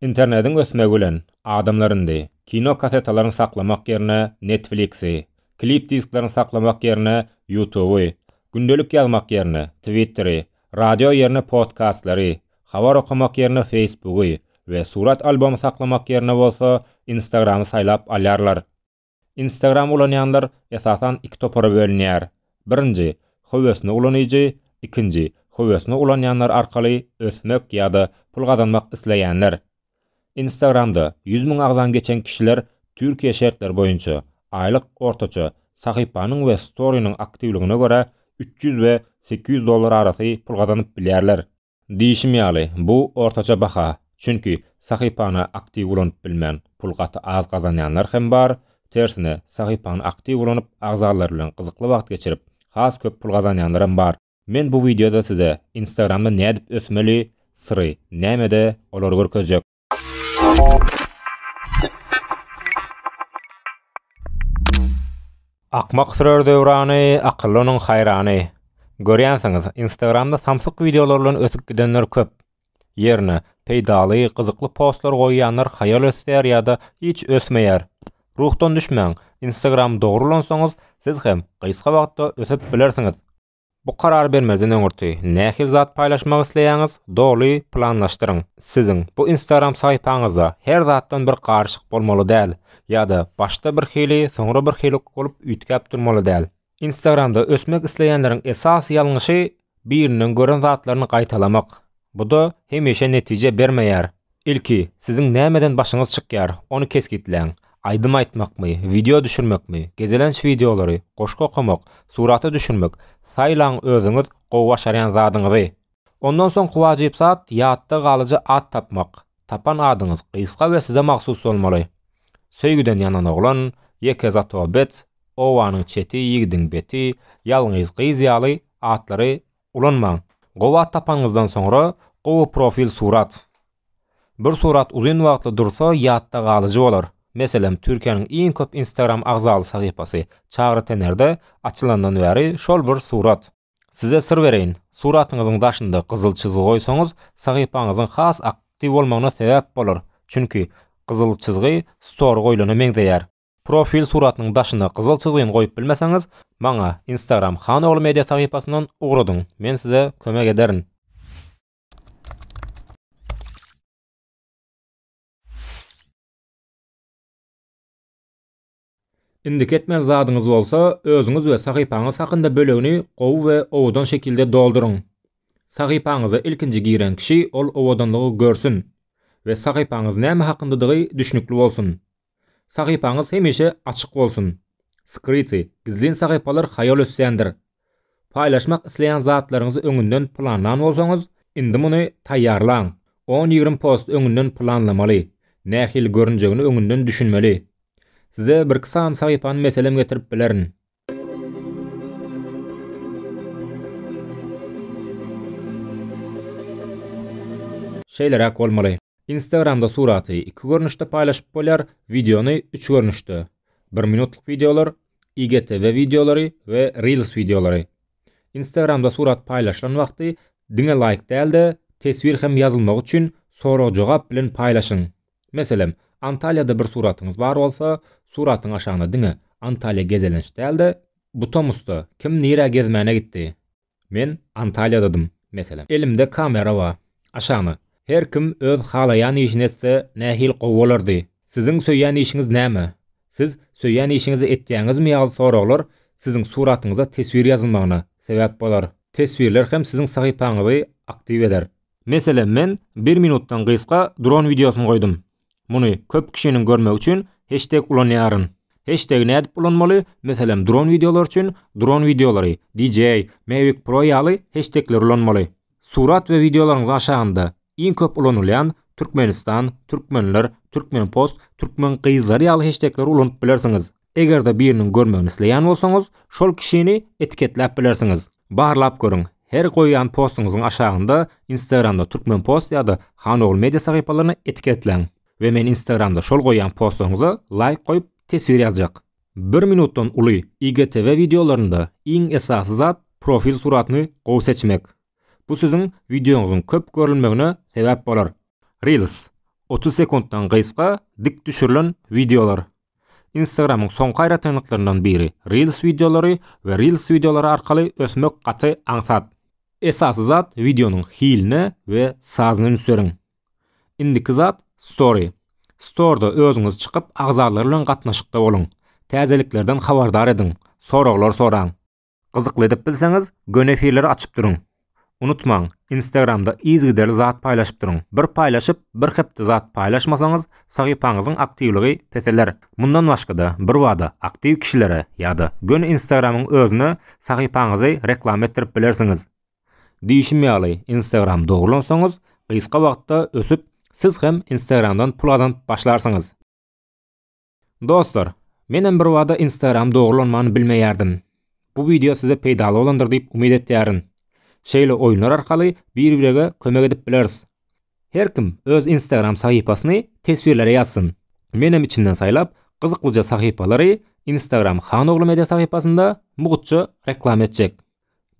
Internediň ösmegi bilen, adamlar indi kino kassetalaryny saklamak ýerine Netflix-i, klip disklaryny saklamak ýerine YouTube-y, gündelik ýazmak ýerine Twitter-i, radio ýerine podkastlary, habar okamak ýerine Facebook-y we surat albomy saklamak ýerine bolsa Instagram-y saýlap alýarlar. Instagram ulanýanlar esasan iki topara bölünýär. Birinji, höwesini ulanyjy, ikinji, höwesini ulanýanlar arkaly ösmek ýa-da pul gazanmak isleýänler. Instagramda ýüz müň agzan geçen kişiler Türkiýe şertleri boýunça, aýlyk ortaça sahypanyň we storynyň aktiwligine görä üç ýüz we sekiz ýüz dollar arasy pul gazanyp bilýärler. Diýşim ýaly, bu ortaça baha, çünki sahypany aktiw ulanyp bilmän, pul gaty az gazanýanlar hem bar, tersine, sahypany aktiw ulanyp, agzalar bilen gyzykly wagt geçirip, has köp pul gazanýanlaram bar. Men bu wideoda size Instagramda nädip ösmeli, syry nämede, olary görkezjek. Akmak sürer döwrany, akylly onuň haýrany. Görýänsiňiz, Instagramda samsyk wideolar bilen ösüp gidenler köp. Ýerine, peýdaly, gyzykly postlar goýýanlar haýal ösýär ýa-da hiç ösmeýär. Ruhdan düşmäň, Instagram dogrulansoňyz, siz hem gysga wagtda ösüp bilersiňiz. Bu karary bermezden öňürti nähili zat paýlaşmak isleýäňiz doly planlaşdyryň. Siziň bu instagram sahypaňyzda her zatdan bir garyşyk bolmaly däl, ýa-da başda bir hili soňra bir hili bolup üýtgäp durmaly däl. Instagramda ösmek isleýänleriň esasy ýalňyşy biriniň gören zatlaryny gaýtalamak. Bu-da hemişe netije bermeýär. Ilki, siziň nämeden başyňyz çykýar, ony kesgitläň. Aýdym aýtmakmy, wideo düşürmekmi, gezelenç wideolary, goşgy okamak, surata düşürmek, saýlaň özüňiz gowy başarýan zadyňyzy. Ondan soňky wajyp zat ýatda galyjy at tapmak, tapan adyňyz gysga we size mahsus bolmaly. Söýgüden ýanan oglan, ýeke zatobet, obanyň çeti, ýigidiň beti, ýalňyz gyz ýaly atlary Ulanmaň. Gowy at tapanyňyzdan soňra, gowy profil surat. Bir surat uzyn wagtly dursa ýatda galyjy bolar. Meselem, Türkiýäniň iň köp Instagram agzaly sahypasy, Çagry Tenerde, açylandan bäri şol bir surat. Size syr bereýin, suratyňyzyň daşynda gyzyl çyzgy goýsaňyz, sahypaňyzyň has aktiw bolmagyna sebäp bolar, çünki gyzyl çyzgy story goýlana meňzeýär. Profil suratynyň daşyna gyzyl çyzgyny goýup bilmeseňiz, maňa Instagram Hanogly Media sahypasyndan ugradyň, men size kömek ederin. Indiki etmeli zadyňyz bolsa, özüňiz we sahypaňyz hakynda bölegini gowy we owadan şekilde dolduryň. Sahypaňyza ilkinji giren kişi ol owadanlygy görsün we sahypaňyz näme hakyndadygy düşnükli bolsun. Sahypaňyz hemişe açyk bolsun! Skryty, gizlin sahypalar haýal ösýändir. Paýlaşmak isleýän zatlaryňyzy öňünden planlan bolsaňyz, indi muny taýýarlaň! On-ýigrimi post öňünden planlamaly, nähili görünjegini öňünden düşünmeli. Size birki sany sahypany meselem getirip bilerin. Şeýleräk bolmaly. Instagramda suraty iki görnüşde paýlaşyp bolýar, wideony üç görnüşde, bir minutlyk wideolar, IGTV wideolary we Reels wideolary. Instagramda surat paýlaşylan wagty diňe laýk däl-de, teswir hem ýazylmagy üçin sorag-jogap bilen paýlaşyň. Meselem, Antalýada bir suratyňyz bar bolsa, suratyň aşagyna diňe Antalýa gezelenç däl-de, Butomusda kim nirä gezmäne gitdi? Men Antalýadadym, meselem. Elimde kamera bar. Aşagny. Her kim öz halaýan işini etse nähili gowy bolardy? Siziň söýýän işiňiz näme? Siz söýýän işiňizi etýäňizmi ýaly soraglar siziň suratyňyza teswir ýazylmagyna sebäp bolar. Teswirler hem siziň sahypaňyzy aktiw eder. Meselem men bir minutdan gysga dron wideosyny goýdum. Muny köp kişiniň görmegi üçin heşteg ulanýaryn. Heştegi nädip ulanmaly, meselem dron wideolar üçin dron wideolary, DJ, Mavic Pro ýaly heştegleri ulanmaly. Surat we wideolaryňyzyň aşagynda iň köp ulanylýan Türkmenistan, Türkmenler, Türkmenpost, Türkmen gyzlary ýaly heştegleri ulanyp bilersiňiz. Eger-de biriniň görmegini isleýän bolsaňyz, şol kişini etiketläp bilersiňiz. Barlap görüň, her goýýan postuňyzyň aşagynda Instagramda Turkmenpost ýa-da Hanogul Media sahypalaryny etiketläň we men Instagramda şol goýýan postlaryňyza laýk goýup teswir ýazjak. Bir minutdan uly IGTV wideolarynda iň esasy zat profil suratyny gowy seçmek. Bu siziň wideoňyzyň köp görülmegine sebäp bolar. Reels, otuz sekuntdan gysga dik düşürilen wideolar. Instagram-yň soňky aýratynlyklaryndan biri, Reels wideolary we Reels wideolary arkaly ösmek gaty aňsat. Esasy zat wideonyň hiline we sazyna üns beriň. Indiki zat, Story. Storyda özüňiz çykyp agzalar bilen gatnaşykda boluň. Täzeliklerden habardar ediň, soraglar soraň. Gyzykly edip bilseňiz, göni efirleri açyp duruň. Unutmaň, Instagramda yzygiderli zat paýlaşyp duruň. Bir paýlaşyp, bir hepde zat paýlaşmasaňyz, sahypaňyzyň aktiwligi peseler. Mundan başga-da, birbada aktiw kişilere ýa-da göni Instagramyň özüne sahypaňyzy reklama etdirip bilersiňiz. Diýşim ýaly, Instagram dogrulansaňyz, gysga wagtda ösüp, siz hem Instagramdan pul gazanyp başlarsyňyz. Dostlar, menem birbada Instagram dogrulanmany bilmeýärdim. Bu wideo size peýdaly bolandyr diýip umyt etýärin. Şeýle oýunlar arkaly bir-birege kömek edip bileris. Her kim öz Instagram sahypasyny teswirlere ýazsyn. Menem içinden saýlap, gyzyklyja sahypalary Instagram Han ogly media sahypasynda mugtça reklama etjek.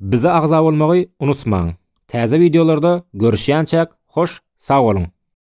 Bize agza bolmagy unutmaň. Täze wideolarda görüşýänçäk hoş sag boluň.